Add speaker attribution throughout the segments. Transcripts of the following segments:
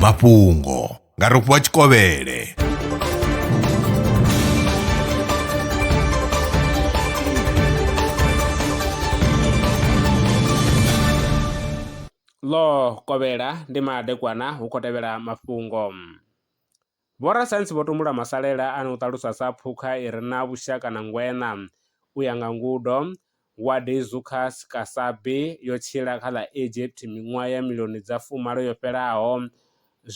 Speaker 1: mafhungo nga rofhiwa tshikovhele
Speaker 2: ḽo kovhela ndi madekwana hu khou tevhela mafhungo Vhorasaintsi vho tumbula masalela ane u ṱaluswa sa phukha i re na vhushaka na ngweṋa. U ya nga ngudo, Wadeizuchus casabi yo tshila kha ḽa Egypt miṅwaha ya milioni dza fumalo yo fhelaho.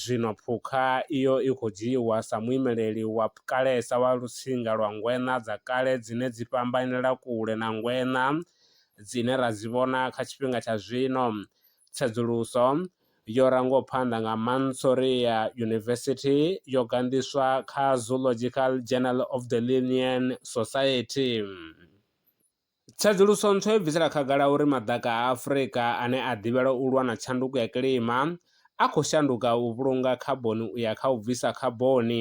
Speaker 2: Zwino phukha iyo i khou dzhiiwa sa muimeleli wa kalesa wa lutsinga lwa ngweṋa dza kale dzine dzi fhambanela kule na ngweṋa dzine ra dzi vhona kha tshifhinga tsha zwino. Tsedzuluso yo rangwaho phanḓa nga Mansoria University yo ganḓiswa kha Zoological Journal of the Linnean Society. Tsedzuluso ntswa yo bvisela khagala uri maḓaka a Afrika ane a ḓivhelwa u lwa na tshanduko ya kilima a khou shanduka u vhulunga khaboni u ya kha u bvisa khaboni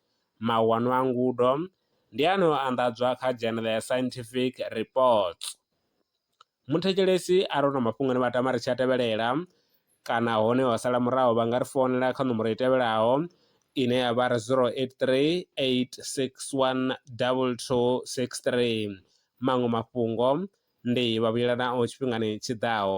Speaker 2: Mahuwano a ngudo ndi ane o anḓadzwa kha Journal ya Scientific Reports. Muthetshelesi arali hu na mafhungo ane vha tama ri tshi a tevhelela kana hone ho sala muraho vha nga ri founela kha ṋomboro i tevhelaho ine ya vha ri 0838612263. Maṅwe mafhungo ndi Vhavhuyelanaho tshifhingani tshi ḓaho.